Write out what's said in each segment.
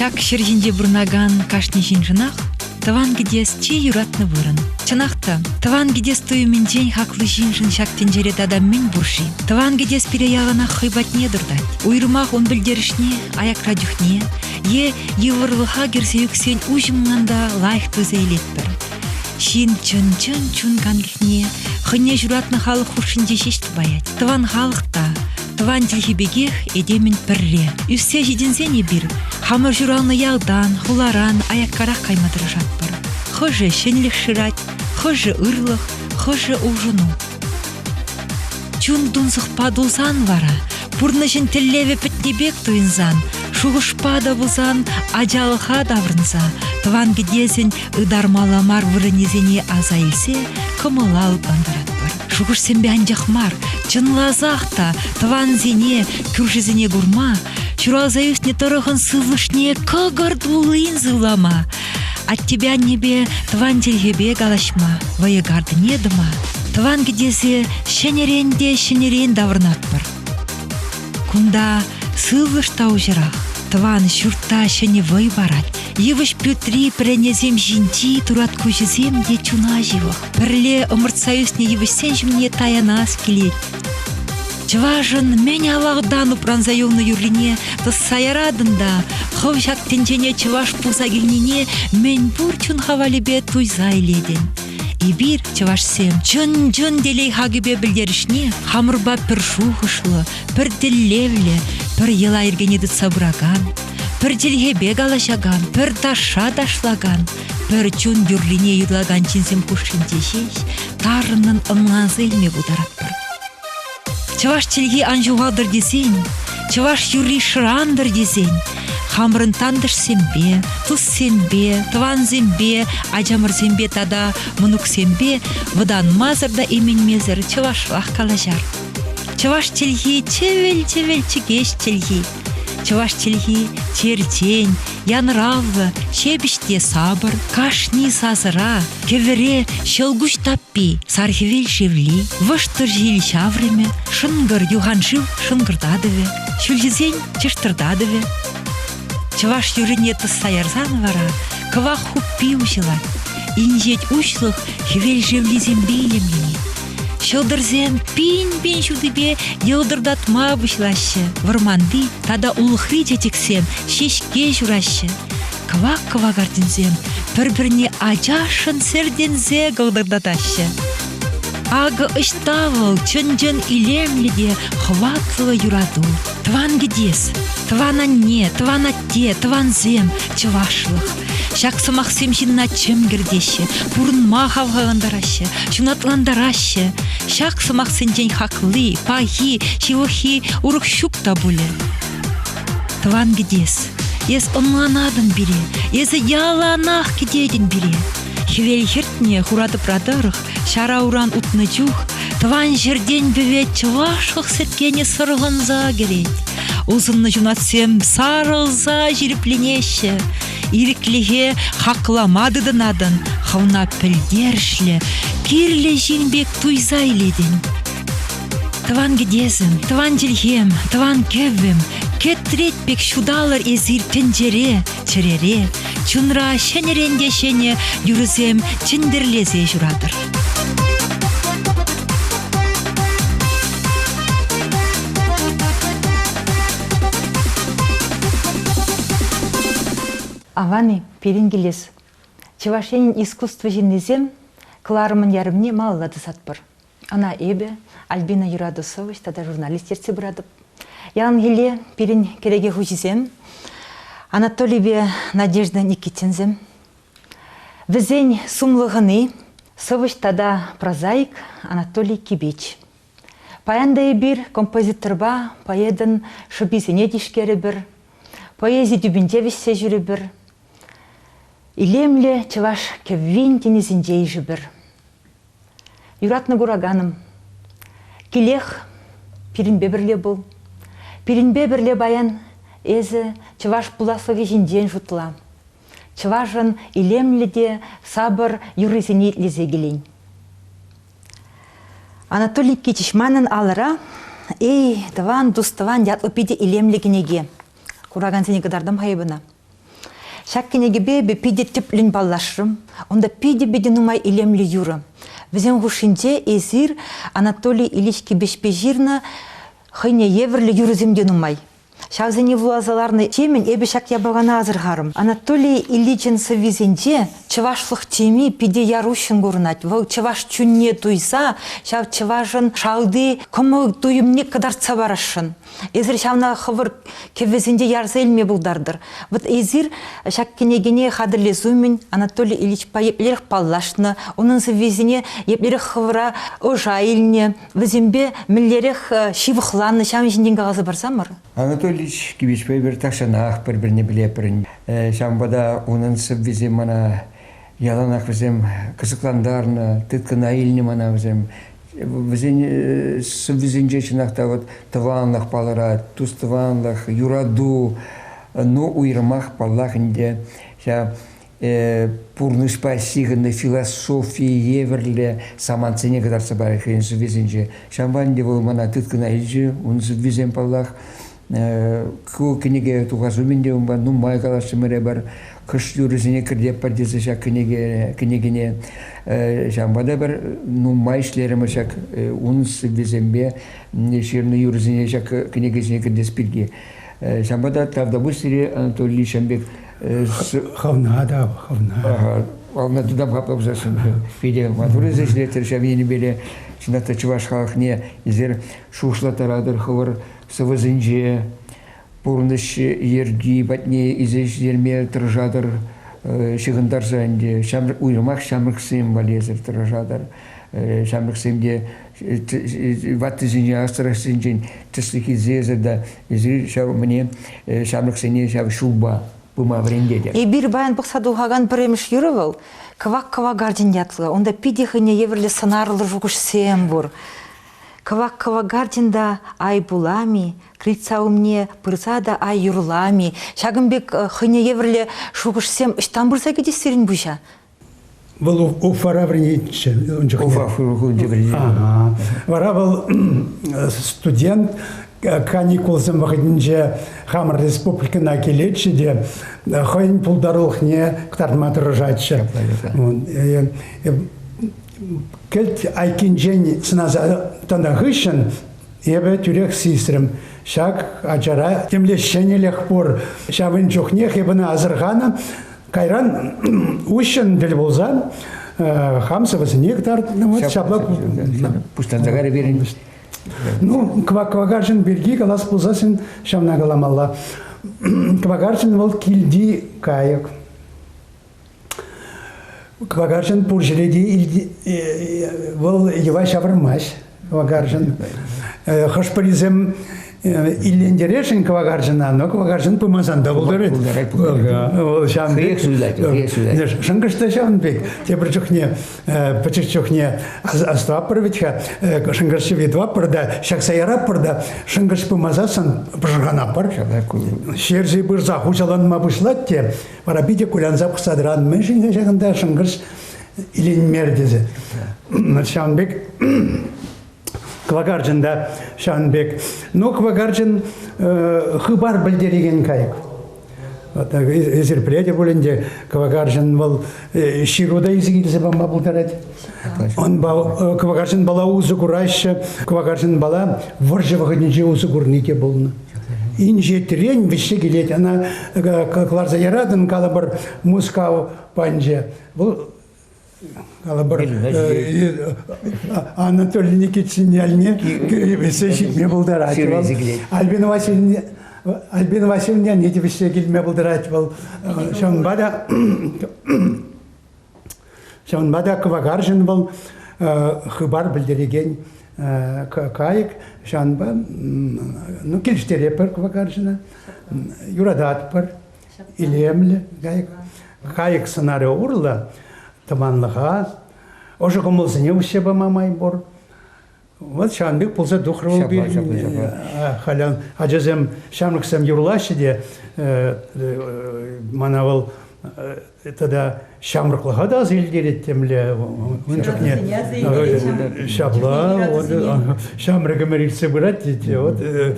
Ҫак ҫӗр ҫинче пурӑнакан кашни ҫыншӑнах тӑван кӗтес чи юратнӑ вырӑн. Чӑнах та, тӑван кӗтес туйӑмӗнчен хаклӑ ҫыншӑн ҫак тӗнчере тата мӗн пур-ши? Тӑван кӗтес пире яланах хӑй патне туртать. Уйрӑмах ун пӗлтерӗшне, аякра чухне, е йывӑрлӑха кӗрсе ӳксен уҫӑмлӑн та лайӑх пырса илетпӗр. Ҫын чӑн-чӑн чун канлӗхне хӑйне ҫуратнӑ халӑх хушшинче ҫеҫ тупаять. Тӑван халӑх та тӑван чӗлхи пекех этемӗн пӗрре. Ӳссе ҫитӗнсен эпир хамӑр ҫуралнӑ ялтан, хуларан аяккарах кайма тӑрӑшатпӑр. Хӑшӗ ҫӗнлӗх шырать, хӑшӗ ырлӑх, хӑшӗ улшӑну. Чун тунсӑхпа тулсан вара, пурнӑҫӑн тӗллевӗ пӗтнӗ пек туйӑнсан, шухӑшпа та пулсан, ачалӑха таврӑнса, тӑван кӗтесӗн ытармалла мар вырӑнӗсене аса илсе кӑмӑла лӑплантаратпӑр. Шухӑшсемпе анчах мар, чӑнласах та тӑвансене, кӳршисене курма, ҫуралса ӳснӗ тӑрӑхӑн сывлӑшне кӑкӑр туллин сывлама, Аттепе-аннепе, тӑван чӗлхепе калаҫма, вӑйӑ картине тӑма, тӑван кӗтесе ҫӗнӗрен те ҫӗнӗрен таврӑнатпӑр. Кунта сывлӑш та уҫӑрах. Тӑван ҫуртта ҫӗнӗ вӑй парать. Йывӑҫ пӳртри пӗренесем ҫинчи турат куҫӗсем те чуна ҫывӑх. Пӗрле ӑмӑртса ӳснӗ йывӑҫсен ҫумне таянас килет. Чӑвашӑн мӗн авалтан упранса юлнӑ юррине тӑсса яратӑн та хӑв ҫак тӗнчене чӑваш пулса килнине мӗн пур чун хавалӗпе туйса илетӗн. Эпир, чӑвашсем, чӑн-чӑн телей хакӗпе пӗлтерӗшне хамӑрпа пӗр шухӑшлӑ, пӗр тӗллевлӗ, пӗр йӑла-йӗркене тытса пыракан, пӗр чӗлхепе калаҫакан, пӗр ташша ташлакан, пӗр чун юррине юрлакан ҫынсем хушшинче ҫеҫ тарӑннӑн ӑнланса илме пултаратпӑр. Чӑваш чӗлхи ан ҫухалтӑр тесен, чӑваш юрри шӑрантӑр тесен, хамӑрӑн тантӑшсемпе, туссемпе, тӑвансемпе, ачамӑрсемпе тата мӑнуксемпе вӑтанмасӑр та именмесӗр чӑвашлах калаҫар. Чӑваш чӗлхи чӗвел-чӗвел чӗкеҫ чӗлхи. Чӑваш чӗлхи чертен, янравлӑ, ҫепӗҫ те сапӑр, кашни сасӑра, кӗвӗре ҫӑлкуҫ таппи, сархивел шевли, вӑштӑр ҫил ҫаврӑмӗ, шӑнкӑр юханшыв шӑнкӑртатӑвӗ, ҫӳлҫисен чӑштӑртатӑвӗ. Чӑваш юррине тӑсса ярсан вара кӑвак хуппи уҫӑлать. Инҫет уҫлӑх хӗвел шевлисемпе илемленет. Ҫӑлтӑрсем пин-пин ҫутипе йӑлтӑртатма пуҫлаҫҫӗ. Вӑрманти тата улӑхри чечексем ҫеҫке ҫураҫҫӗ. Кӑвак-кӑвак артинсем пӗр-пӗрне ачашшӑн сӗртӗнсе кӑлтӑртатаҫҫӗ. Акӑ ӑҫта вӑл чӑн-чӑн илемлӗ те хӑватлӑ юрату. Тӑван кӗтес, тӑван анне, тӑван атте, тӑвансем, чӑвашлӑх. Ҫак сӑмахсем ҫынна чӗм кӗртеҫҫӗ, пурӑнма хавхалантараҫҫӗ, ҫунатлантараҫҫӗ. Ҫак сӑмахсенчен хакли, пахи, ҫывӑххи урӑх ҫук та пулӗ. Тӑван кӗтес, эс ӑнланатӑн пире, эсӗ яланах кӗтетӗн пире. Хӗвел хӗртнӗ хура тӑпра тӑрӑх Ҫара уран утнӑ чух тӑван ҫӗртен пӗвет чӑвашлӑх сӗткенӗ сӑрхӑнса кӗрет. Усӑннӑ ҫунатсем сарӑлса ҫирӗпленеҫҫӗ. Ирӗклӗхе хаклама тытӑнатӑн, хӑвна пӗлтерӗшлӗ, кирлӗ ҫын пек туйса илетӗн. Тӑван кӗтесӗм, тӑван чӗлхем, тӑван кӗввӗм, кӗтрет пек ҫуталӑр эсир тӗнчере, Чӗрере, чунра ҫӗнӗрен те ҫӗнӗ юрӑсем чӗнтӗрлесе ҫуратӑр. Авани пирӗн килес. Чӑваш Енӗн искусство ҫыннисем кӑларӑмӑн ярӑмне малалла тӑсатпӑр. Ӑна эпӗ, Альбина юрату сӑвӑҫ тата журналист ертсе пыратӑп. Яланхилле пирӗн кӗреке хуҫисем, Анатолийпе Надежда Никитинсем. Вӗсен сумлӑ хӑни, сӑвӑҫ тата прозаик Анатолий Кибеч. Паян та эпир композиторпа поэтӑн шӑписене тишкерӗпӗр, поэзи тӳпинче вӗҫсе ҫӳрӗпӗр, илемлӗ чӑваш кӗввин тӗнӗсенче ишӗпӗр. Юратнӑ кураканӑм, килех пирӗнпе пӗрле пул. Пирӗнпе пӗрле паян эсӗ чӑваш пуласлӑхӗ ҫинчен шутла. Чӑвашӑн илемлӗ те сапӑр юррисене итлесе килен. Анатолий Кичич манӑн алӑра «Эй, тӑван, тус-тӑван» ятлӑ питӗ илемлӗ кӗнеке. Куракансене кӑтартам-ха эпӗ ӑна. Ҫак кӗнекепе эпӗ питӗ тӗплӗн паллашрӑм. Унта питӗ-питӗ нумай илемлӗ юрӑ. Вӗсем хушшинче эсир Анатолий Ильич Кипеҫпе ҫырнӑ хӑйне евӗрлӗ юрӑсем те нумай. Ҫавсене вуласа ларнӑ темӗн эпӗ ҫак япалана асӑрхарӑм. Анатолий Ильичӑн сӑввисенче чӑвашлӑх теми питӗ яр уҫҫӑн курӑнать. Вӑл чӑваш чунне туйса ҫав чӑвашӑн шалти кӑмӑл-туйӑмне кӑтартса парасшӑн. Эсир ҫавна хӑвӑр кӗввесенче ярса илме пултартӑр. Вот эсир ҫак кӗнекене хатӗрлес умӗн Анатолий Ильичпа еплерех паллашнӑ, унӑн сӑввисене еплерех хӑвӑра ӑша илнӗ, вӗсемпе мӗнлерех э, ҫывӑхланнӑ ҫавӑн ҫинчен каласа парсамӑр. Анатолий Ильич Кивичпа эпир тахҫанах пӗр-пӗрне пӗлетпӗр. Э, ҫавӑнпа та унӑн сӑввисем мана Яланах вӗсем кӑсӑклантарнӑ, тыткӑна илнӗ мана вӗсем. Вӗсен э, сӑввисенче чӑнах та вот тӑванлӑх палӑрать, тус-тӑванлӑх, юрату, ну уйрӑмах паллах ӗнтӗ ҫав э, пурнӑҫпа ҫыхӑннӑ философи евӗрлӗ самантсене кӑтартса парать хӑйӗн сӑввисенче. Ҫавӑнпа ӗнтӗ вӑл мана тыткӑна илчӗ, ун сӑввисем паллах. Ку кӗнеке тухас умӗн те унпа нумай калаҫрӑмӑр эпир. Кӑш юрӑсене кӗртеппӗр тесе ҫак кӗнеке, кӗнекене ҫавӑнпа та эпир нумай ӗҫлерӗмӗр ҫак ун сӑввисемпе ҫырнӑ юрӑсене ҫак кӗнекесене кӗртес пирки. Ҫавӑнпа та Тавтапуҫри Анатолий Ишембек Хӑвна та, хӑвна. Хӑвна тутам хапла пусассӑн. Питӗ матур ӗҫ ӗҫлетӗр ҫав енӗпе те чӑнах та чӑваш халӑхне эсир шухӑшлаттаратӑр хӑвӑр сӑвӑсенче пурнӑҫ йӗрки патне илсе ҫитерме тӑрӑшатӑр, ҫыхӑнтарса ӗнтӗ ҫамрӑк уйрӑмах ҫамрӑксем валлиесӗр тӑрӑшатӑр. Ҫамрӑксем те ваттисенчен, астрахсенчен тӗслӗх илсесӗр те эсир ҫав мӗне ҫамрӑксене ҫав ҫулпа пыма вӗрентетӗр. Эпир баян пӑхса тухакан пӗрремӗш юрӑ вӑл Кӑвак кӑвакарчӑн ятлӑ. Унта питӗ хӑйне евӗрлӗ сӑнарлӑ шухӑшсем пур. Кӑвак-кӑвакартин та ай пулам-и, крыльца умне пырса та ай юрлам-и, ҫакӑн пек э, хӑйне евӗрлӗ шухӑшсем ӑҫтан пырса кӗтӗҫ сирӗн пуҫа? Вӑл Уфара вӗренетчӗ ун чухне. Уфа шкулӗнче вӗренет. Вара вӑл студент каникулсем вӑхӑтӗнче хамӑр республикӑна килетчӗ те хӑйӗн пултарулӑхне кӑтартма тӑрӑшатчӗ. Э, Кӗлт айккинчен сӑнаса тӑнӑ хыҫҫӑн эпӗ тӳрех сисрӗм. Ҫак ачара темле ҫӗнӗлӗх пур. Ҫавӑн чухнех эп ӑна асӑрханӑ. Кайран уҫҫӑн тӗл пулсан хам сӑвӑсене кӑтартнӑ. Вот ҫапла. Пуҫланса карӗ пирӗн. Ну, кваквакарчӑн пирки калас пулсассин ҫавна каламалла. Квакарчӑн вӑл килти кайӑк. Кӑвакарчӑн пур ҫӗре те вӑл йӑва ҫавӑрмасть. Кӑвакарчӑн хӑш-пӗрисем иллентересшӗн кӑвакарчӑна, но кӑвакарчӑн пымасан та пултарать. Вӑл ҫавӑн пек. суйлать. Шӑнкӑш та ҫавӑн пек. Тепӗр чухне пӗчӗк чухне астӑваппӑр вӗт-ха, шӑнкӑрч йӑви тӑваппӑр та, ҫакса яратпӑр та, шӑнкӑрч пымасан пӑшӑрханаппӑр. Ҫерҫи пырса хуҫаланма пуҫлать те Вара питӗ кулянса пӑхса тӑран, мӗншӗн тесе кунта шӑнкӑрч иленмер тесе. Ҫавӑн пек квакарчӑн та ҫавӑн пек. Но квакарчӑн хыпар пӗлтерекен кайӑк. Вот эсир пӗлетӗр пулин те, квакарчӑн вӑл ҫыру та изи килсе пама пултарать. Квакарчӑн бала усӑ кураҫҫӗ. Квакарчӑн бала вӑрҫӑ вӑхӑтӗнче усӑ курни те пулнӑ. Инҫетрен вӗҫсе килет, ӑна кӑларса яратӑн, калӑпӑр, Мускав панчӗ. Вӑл калӑпӑр Анатолий Никитин ялне вӗҫсе ҫитме пултарать вӑл. Альбина Васильевна Альбина Васильевна те вӗҫсе килме пултарать вӑл. Ҫавӑнпа та Ҫавӑнпа та кӑвакарчӑн вӑл хыпар пӗлтерекен кайӑк. Ҫавӑнпа ну, килӗштеретпӗр кӑвакарчӑна, юрататпӑр, илемлӗ кайӑк. Кайӑк сӑнарӗ урлӑ тӑванлӑха, ӑшӑ кӑмӑлсене уҫса пама май пур. Вот ҫавӑн пек пулса тухрӗ вӑл пирӗн. Халь ачасем, ҫамрӑксем юрлаҫҫӗ те, мана вӑл тата ҫамрӑклӑха та аса илтерет темле ун чухне ҫапла ҫамрӑк ӗмӗр иртсе пырать тете вот э,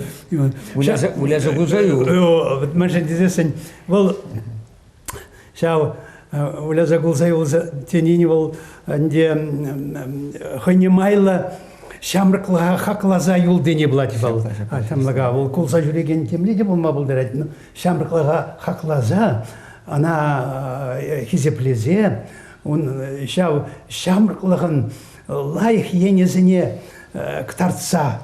выляса выляса пулса юл мӗншӗн тесессӗн вӑл Ҫав выляса кулса юлса тенин вӑл ӗнтӗ хӑйне майлӑ ҫамрӑклӑха хакласа юл тени пулать вӑл. Ҫамрӑка вӑл кулса ҫӳрекен темле те пулма пултарать. Ҫамрӑклӑха хакласа ӑна хисеплесе ун ҫав ҫамрӑклӑхӑн лайӑх енӗсене кӑтартса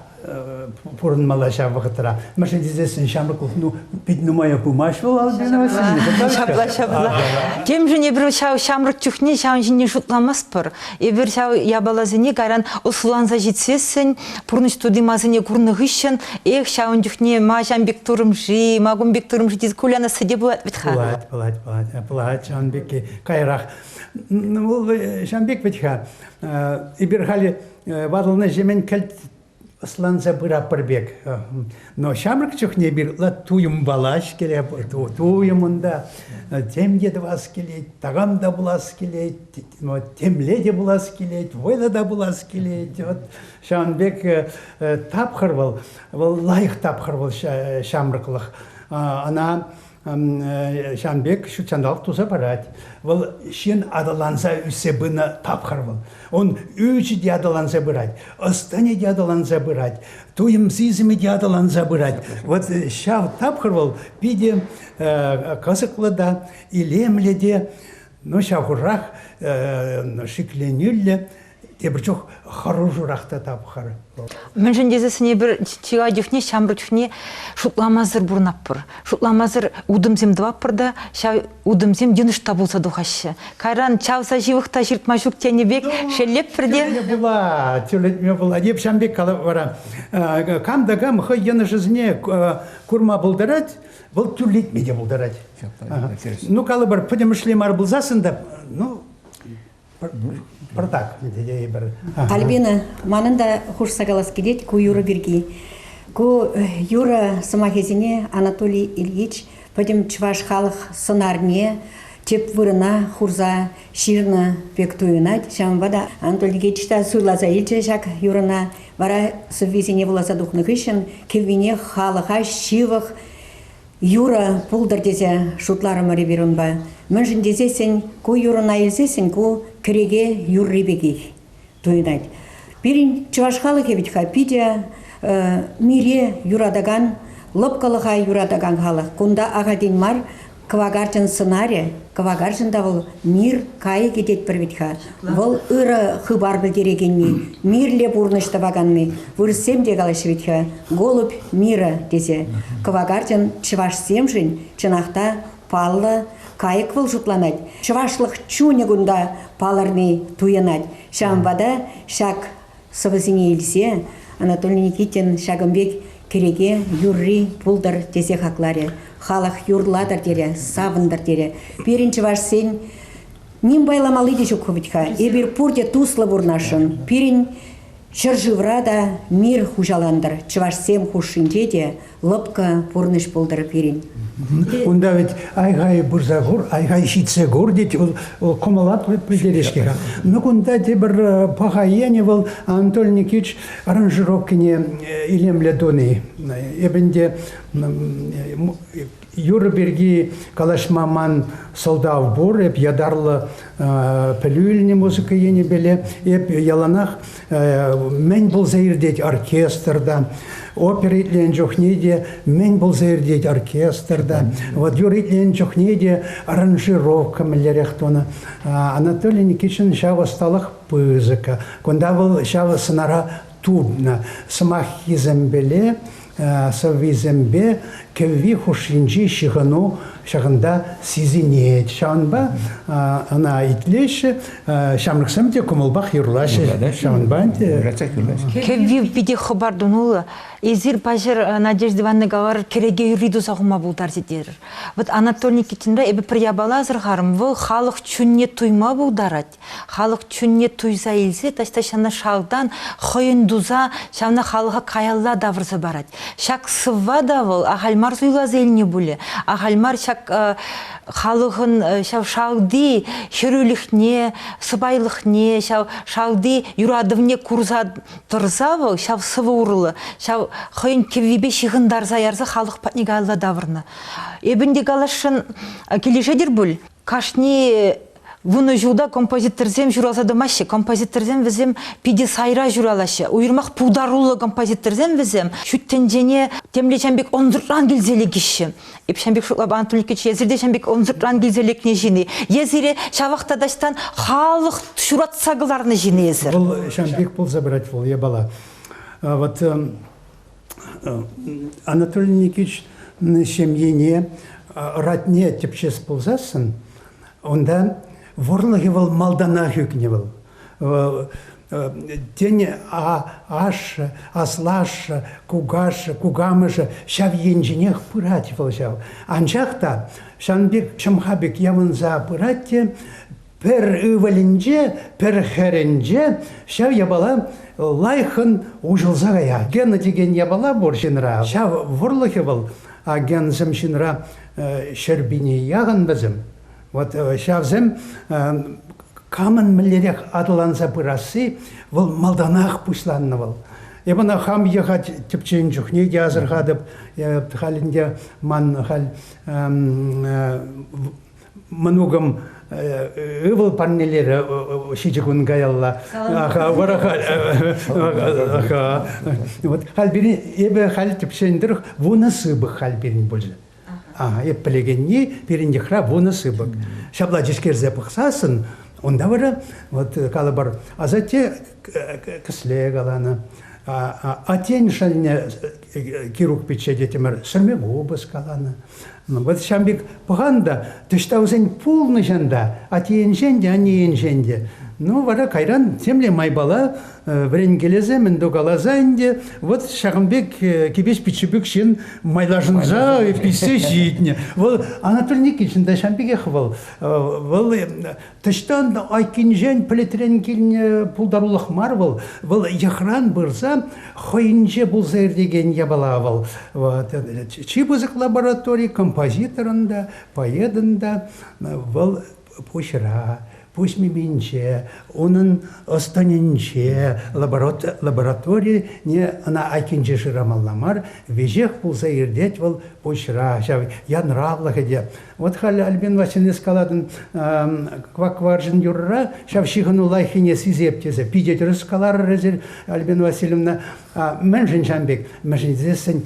пурӑнмалла ҫав вӑхӑтра. Мӗншӗн тесен ҫамрӑклӑх ну, пит нумая пымасть вӑл Альбина Васильевна. Ҫапла, ҫапла. Темшӗн эпир ҫав ҫамрӑк чухне ҫавӑн ҫине шутламастпӑр. Эпир ҫав япаласене кайран ӑслӑланса ҫитсессӗн, пурнӑҫ тути-масине курнӑ хыҫҫӑн, эх, ҫавӑн чухне ма ҫам пек турӑм-ши, ма кун пек турӑм-ши тесе кулянасси те пулать вӗт-ха. Пулать, пулать, пулать, пулать ҫавӑн пекки каярах Вӑл ҫам пек вӗт-ха. Эпир халӗ ватӑлнӑҫемӗн кӗлт ӑсланса пыратпӑр пек. Но ҫамрӑк чухне эпир туйӑм валаҫ килет, туйӑм унта, тем те тӑвас килет, такам та пулас килет, темле те пулас килет, вӑйлӑ та пулас килет. Ҫавӑн пек тапхӑр вӑл, вӑл лайӑх тапхӑр вӑл ҫамрӑклӑх. Ӑна ҫавӑн пек ҫутҫанталӑк туса парать. Вӑл ҫын аталанса ӳссе пынӑ тапхӑр вӑл. Он ӳчӗ те аталанса пырать, ӑс-тӑнӗ те аталанса пырать, туйӑм сисӗмӗ те аталанса пырать. Вот ҫав тапхӑр вӑл питӗ кӑсӑклӑ та, илемлӗ те, ну ҫав хурах, шикленӳллӗ тепӗр чух хӑрушӑрах та тапхӑр. Мӗншӗн тесессӗн эпир чылай чухне ҫамрӑк чухне шутламасӑр пурӑнатпӑр. Шутламасӑр утӑмсем тӑватпӑр та ҫав утӑмсем йӑнӑш та пулса тухаҫҫӗ. Кайран чавса ҫывӑх та ҫыртма ҫук тенӗ пек шеллетпӗр те. Тӳлетме пула, тӳлетме пула. Эп ҫав пек калап вара. Кам та кам хӑй йӑнӑшӗсене курма пултарать, вӑл тӳрлетме те пултарать. Ну калӑпӑр, пӗтӗмӗшле мар пулсассӑн та, ну пӑртак тесе тейӗпӗр. Альбина, манӑн та хушса калас килет ку юрӑ пирки. Ку юрӑ сӑмахӗсене Анатолий Ильич пӗтӗм чӑваш халӑх сӑнарне тӗп вырӑна хурса ҫырнӑ пек туйӑнать. Ҫавӑнпа та Анатолий Ильич та суйласа илчӗ ҫак юрӑна. Вара сӑввисене вуласа тухнӑ хыҫҫӑн кӗввине халӑха ҫывӑх Юрӑ пултӑр тесе шутларӑмӑр эпир унпа. Мӗншӗн тесессӗн ку юрӑна илсессӗн ку кӗреке юрри пекех туйӑнать. Пирӗн чӑваш халӑхӗ вӗт-ха питӗ мире юратакан, лӑпкӑлӑха юратакан халӑх. Кунта ахальтен мар кӑвакарчӑн сӑнарӗ, кӑвакарчӑн та вӑл мир кайӑкӗ тетпӗр вӗт-ха. Вӑл ырӑ хыпар пӗлтерекенни, мирлӗ пурнӑҫ тӑваканни, вырӑссем те калаҫҫӗ вӗт-ха, голубь мира тесе. Кӑвакарчӑн чӑвашсемшӗн чӑнах та паллӑ кайӑк вӑл шутланать. Чӑвашлӑх чунӗ кунта палӑрни туйӑнать. Ҫавӑнпа та ҫак сӑвӑсене илсе Анатолий Никитин ҫакӑн пек кӗреке юрри пултӑр тесе хакларӗ. Халӑх юрлатӑр терӗ, савӑнтӑр терӗ. Пирӗн чӑвашсен Ним байламалли те ҫук вӗт-ха. Эпир пурте туслӑ пурнасшӑн. Пирӗн ҫӗршывра та мир хуҫалантӑр. Чӑвашсем хушшинче те лӑпкӑ пурнӑҫ пултӑр пирӗн. Кунта вӗт ай-хай пырса кур, ай-хай ҫитсе кур, тет, вӑл, вӑл кӑмӑллатлӑ пӗлтерет-ҫке-ха. Ну кунта тепӗр э, паха енӗ вӑл Анатолий Никитич аранжировкине э, илемлӗ туни. Эп ӗнтӗ Юрӑ пирки калаҫма ман сӑлтав пур. Эп ятарлӑ пӗлӳ илнӗ музыка енӗпеле. Эп яланах мӗн пулса иртет оркестрта, опера итленӗ чухне те мӗн пулса иртет оркестрта. Вот юрӑ итленӗ чухне те аранжировка мӗнлерех тунӑ. Анатолий Никитшин ҫав ӑсталӑх пысӑкка. Кунта вӑл ҫав сӑнара тупнӑ сӑмаххисемпеле сӑввисемпе кӗвви хушшинчи ҫыхӑну ҫакӑнта сисӗнет. Ҫавӑнпа ӑна итлеҫҫӗ, ҫамрӑксем те кӑмӑлпах юрлаҫҫӗ. Ҫавӑнпа ӗнтӗ кӗвви питӗ хӑпар тунуллӑ. Эсир, паҫӑр Надежда Ивановна каларӑр, кӗреке юрри туса хума пултарчӗ терӗр. Вот Анатолий Никитинпа эпӗ пӗр япала асӑрхарӑм, вӑл халӑх чунне туйма пултарать. халӑх чунне туйса илсе таҫта ҫавна шалтан хӑйӗн туса ҫавна халӑха каялла тавӑрса парать. Ҫак сӑвва та вӑл ахаль мар суйласа илнӗ пулӗ, ахаль мар ҫак халӑхӑн ҫав шалти хӗрӳлӗхне, сӑпайлӑхне, ҫав шалти юратӑвне курса тӑрса вӑл ҫав сӑвӑ урлӑ ҫав хӑйӗн кӗввипе ҫыхӑнтарса ярса халӑх патне каялла тавӑрнӑ. Эпӗ ӗнтӗ каласшӑн килӗшетӗр пуль? Кашни вунӑ ҫулта композиторсем ҫуралса тӑмаҫҫӗ. Композиторсем вӗсем питӗ сайра ҫуралаҫҫӗ. Уйрӑмах пултаруллӑ композиторсем вӗсем ҫут тӗнчене темле ҫам пек ӑнсӑртран килсе лекеҫҫӗ. Эп ҫам пек шутлап Анатолий Ильич, эсир те ҫам пек ӑнсӑртран килсе лекнӗ ҫын-и? Е сире ҫавах та таҫтан халӑх ҫуратса кӑларнӑ ҫын-и эсир? Вӑл ҫам пек пулса пырать вӑл япала. Вот Анатолий Никитич ҫемьене родне тӗпчес пулсассӑн, унта вӑрлӑхӗ вӑл малтанах ӳкнӗ вӑл. Тен, ашшӗ, аслашшӗ, кукашшӗ, кукамӑшӗ ҫав енченех пырать вӑл ҫав. Анчах та ҫавӑн пек ҫӑмха пек явӑнса пырать те Пӗр ывӑлӗнче, пӗр хӗрӗнче ҫав япала лайӑххӑн уҫӑлса каять. Гена текен япала пур ҫынра. Ҫав вӑрлӑхӗ вӑл агенсем ҫынра ҫӗрпине яхӑн вӗсем. Вот ҫавсем камӑн мӗнлерех аталанса пырасси вӑл малтанах пуҫланнӑ вӑл. Эп ӑна хам йӑхать тӗпчен чухне те асӑрхатӑп. Халь ӗнтӗ ман халь мӑнукӑм ывӑл парнелерӗ ҫичӗ кун каялла. Вот халь пирӗн эпӗ халь тӗпчен тӑрӑх вунӑ сыпӑк халь пирӗн пулчӗ. Ага, эп пӗлекенни пирӗн йӑхра вунӑ сыпӑк. Ҫапла тишкерсе пӑхсассӑн унта вара вот калӑпӑр асатте кӗсле каланӑ, атен шӑлне Кирук пичче тетӗмӗр сӗрме купӑс каланӑ. Ну, вот ҫам пек пӑхан та, тӑҫта вӗсен пулнӑҫан та, атийӗнчен те, аннейӗнчен те. Ну, вара кайран темле майпала вӗренкелесе мӗн то каласа ӗнтӗ, вот ҫакӑн пек кипеҫ пиччепек ҫын майлашӑнса писсе ҫитнӗ. Вӑл Анатолий Никитин та ҫам пекех вӑл. Вӑл Таҫтан та айккинчен пӗлӗтрен килнӗ пултарулӑх мар вӑл. Вӑл йӑхран пырса хӑйӗнче пулса иртекен япала вӑл. Чи пысӑк лаборатори композиторӑн та, поэтӑн та вӑл пуҫра, пуҫ миминче, унӑн ӑс-тӑнӗнче, лабораторине ӑна айккинче шырамалла мар, веҫех пулса иртет вӑл пуҫра, ҫав янравлӑхӗ те Вот халӗ Альбин Васильевна скалатӑн квак варҫӑн юрра ҫав ҫыхӑну лайӑххине сисеп тесе питӗ тӗрӗс каларӑр эсир, Альбин Васильевна. Мӗншӗн ҫан пек? Мӗншӗн тесессӗн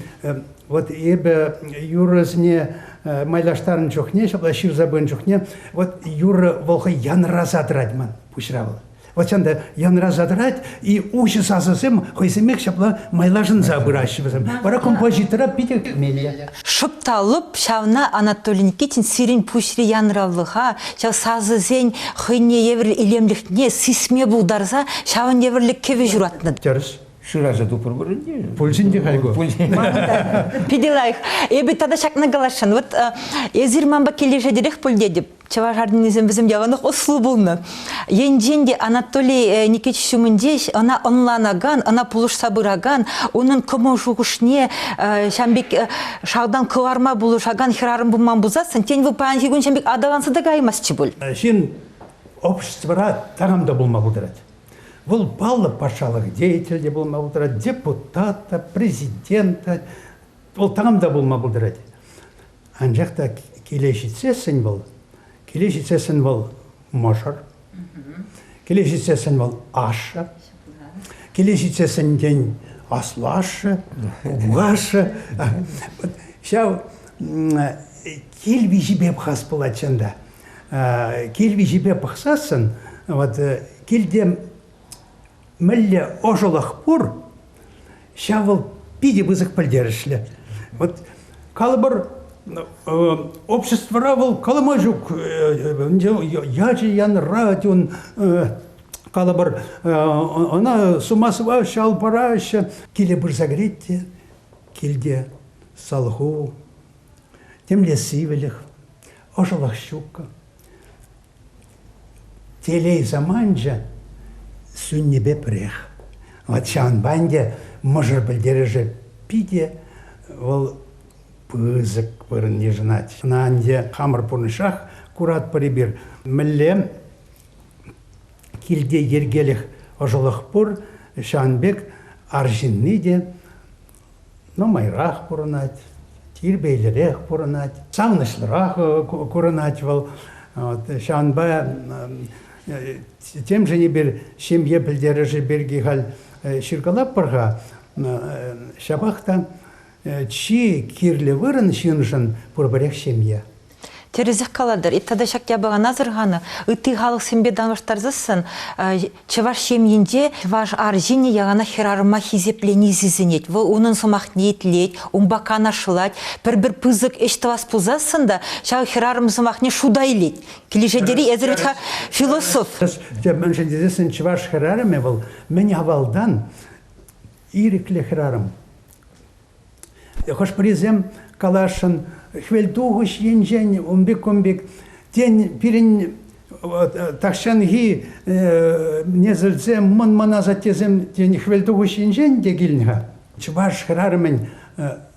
вот эпӗ юрӑсене майлаштарнӑ чухне, ҫапла ҫырса пынӑ чухне, вот юрӑ вӑл хӑй янраса тӑрать ман пуҫра вӑл. Вот ҫында янраса тӑрать, и уҫӑ сасӑсем хӑйсемех ҫапла майлашӑнса пыраҫҫӗ вӗсем. Вара композитора питӗ кӗмелле. Шӑп та лӑп ҫавна Анатолий Никитин сирӗн пуҫри янралӑха, ҫав сасӑсен хӑйне евӗр илемлӗхне сисме пултарса ҫавӑн евӗрлӗ кӗвӗ ҫуратнӑ. Тӗрӗс. Шыраса тупӑр пулин те. Пулсен те хай ку. Питӗ лайӑх. Эпӗ тата ҫакна каласшӑн. Вот эсир манпа килӗшетӗрех пуль тетӗп. Чӑваш армянӗсем вӗсем яланах ӑслӑ пулнӑ. Енчен те Анатолий э, Никитич ҫумӗнче ӑна ӑнланакан, ӑна пулӑшса пыракан, унӑн кӑмӑл-шухӑшне э, ҫам пек э, шалтан кӑларма пулӑшакан хӗрарӑм пулман пулсассӑн, тен, вӑл паянхи кун ҫам пек аталанса та каймастчӗ пуль. Ҫын обществӑра таран та пулма пултарать. Вӑл паллӑ патшалӑх деятель те пулма пултарать, депутат та, президент та, вӑл таран та пулма пултарать. Анчах та киле ҫитсессӗн вӑл, киле ҫитсессӗн вӑл мӑшӑр, киле ҫитсессӗн вӑл ашшӗ, киле ҫитсессӗн тен аслашшӗ, пукашшӗ. Ҫав кил виҫипе пӑхас пулать чӑнта. Кил виҫипе пӑхсассӑн, вот килте мӗнле ӑшӑлӑх пур, ҫав вӑл питӗ пысӑк пӗлтерӗшлӗ. Вот калӑпӑр, обществӑра вӑл калама ҫук ячӗ янӑрать ун калӑпӑр, ӑна сума сӑваҫҫӗ, ал параҫҫӗ. Киле пырса кӗрет те, килте салху, темле сивӗлӗх, ӑшӑлӑх ҫуккӑ. Телей саманчӗ сӳннипе пӗрех. Вӑт ҫавӑнпа ӗнтӗ мӑшӑр пӗлтерӗшӗ питӗ вӑл пысӑк вырӑн йышӑнать. Ӑна ӗнтӗ хамӑр пурнӑҫрах куратпӑр эпир. Мӗнле килте йӗркелӗх ӑшӑлӑх пур, ҫавӑн пек арҫынни те Нумайрах пурӑнать, тирпейлӗрех пурӑнать, савӑнӑҫлӑрах курӑнать вӑл. Ҫавӑнпа темшӗн эпир ҫемье пӗлтерӗшӗ пирки халь ҫыркалатпӑр-ха. Ҫапах та чи кирлӗ вырӑн ҫыншӑн пурпӗрех ҫемье. Тӗрӗсех калатӑр. Тата ҫак япалана асӑрханӑ ытти халӑхсемпе танлаштарсассӑн чӑваш ҫемйинче чӑваш арҫынӗ яланах хӗрарӑма хисеплени сисӗнет. Вӑл унӑн сӑмахне итлет, унпа канашлать, пӗр-пӗр пысӑк ӗҫ тӑвас пулсассӑн та ҫав хӗрарӑм сӑмахне шута илет. Килӗшетӗр-и эсир вӗт-ха философ? Мӗншӗн тесессӗн чӑваш хӗрарӑмӗ вӑл мӗн авалтан ирӗклӗ хӗрарӑм. Хӑш-пӗрисем каласшӑн хвелтухӑҫ енчен ун пек-кун пек, тен, пирӗн тахҫанхи несӗлсем, мӑн-мӑн асаттесем, тен, хвелтухӑҫ енчен те килнӗ-ха. Чӑваш хӗрарӑмӗн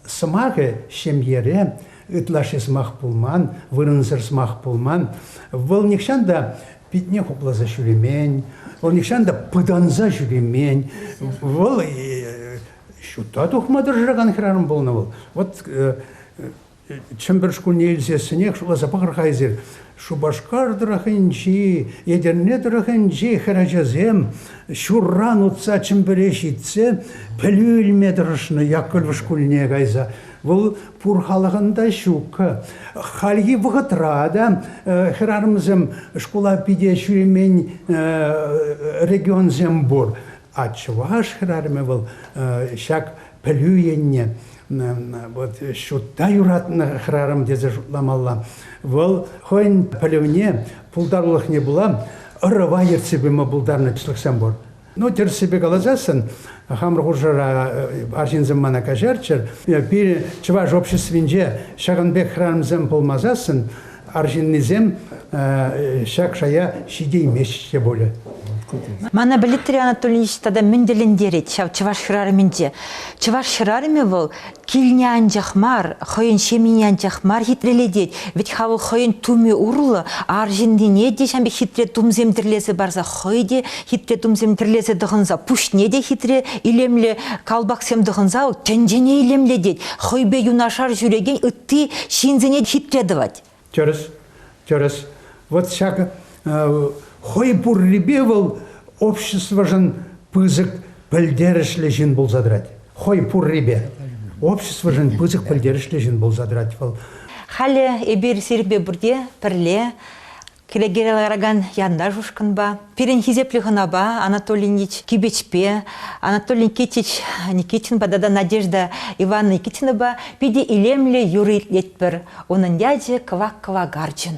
сӑмахӗ ҫемьере ытлашши сӑмах пулман, вырӑнсӑр сӑмах пулман. Вӑл нихҫан та питне хупласа ҫӳремен, вӑл нихҫан та пытанса ҫӳремен. Вӑл Ҫутта тухма тӑрӑшакан хӗрарӑм пулнӑ вӑл. Вот э, Чӗмпӗр шкулне илсессӗнех шутласа пӑхӑр-ха эсир, Шупашкар тӑрӑхӗнчи, Етӗрне тӑрӑхӗнчи хӗрачасем ҫурран утса Чӗмпӗре ҫитсе пӗлӳ илме тӑрӑшнӑ Яккӑльво шкулне кайса. Вӑл пур халӑхӑн та ҫук. Хальхи вӑхӑтра та э, хӗрарӑмсем шкула питӗ ҫӳремен э, регионсем пур. А чӑваш хӗрарӑмӗ вӑл ҫак пӗлӳ енне вот ҫутта юратнӑ хӗрарӑм тесе шутламалла. Вӑл хӑйӗн пӗлӗвне, пултарулӑхне пула ӑрӑва ертсе пыма пултарнӑ чӑлӑхсем пур. Ну, тӗрӗссипе каласассӑн, хамӑр хушӑра арҫынсем мана каҫарччӑр. Пирӗн чӑваш обществинче ҫакӑн пек хӗрарӑмсем пулмасассӑн Арҫыннисем ҫак шая ҫитеймеҫҫӗ те пулӗ. Мана пӗлеттере Анатольевич тата мӗн тӗлӗнтерет ҫав чӑваш хӗрарӑмӗнче. Чӑваш хӗрарӑмӗ вӑл килне анчах мар, хӑйӗн ҫемйине анчах мар хитрелетет, вӗт-ха вӑл хӑйӗн тумӗ урлӑ арҫыннине те ҫam пек хитре тумсем тӗрлесе парса хӑй те хитре тумсем тӗрлесе тӑхӑнса пуҫне те хитре илемлӗ калпаксем тӑхӑнса тӗнчене илемлетет, хӑйпе юнашар ҫӳрекен ытти ҫынсене хитре тӑвать. Тӗрӗс, тӗрӗс. Вот ҫак хӑй пуррипе вӑл обществӑшӑн пысӑк пӗлтерӗшлӗ ҫын пулса тӑрать. Хӑй пуррипе. Обществӑшӑн пысӑк пӗлтерӗшлӗ ҫын пулса тӑрать вӑл. Халӗ эпир сирпе пурте пӗрле Кӗлекере ларакан янташ ушкӑнпа, пирӗн хисеплӗ хӑнапа Анатолий Ильич Кибечпе, Анатолий Никитич Никитинпа тата Надежда Ивановна Никитинӑпа питӗ илемлӗ юрӑ итлетпӗр. Унӑн ячӗ кӑвак кӑвак арчӑн.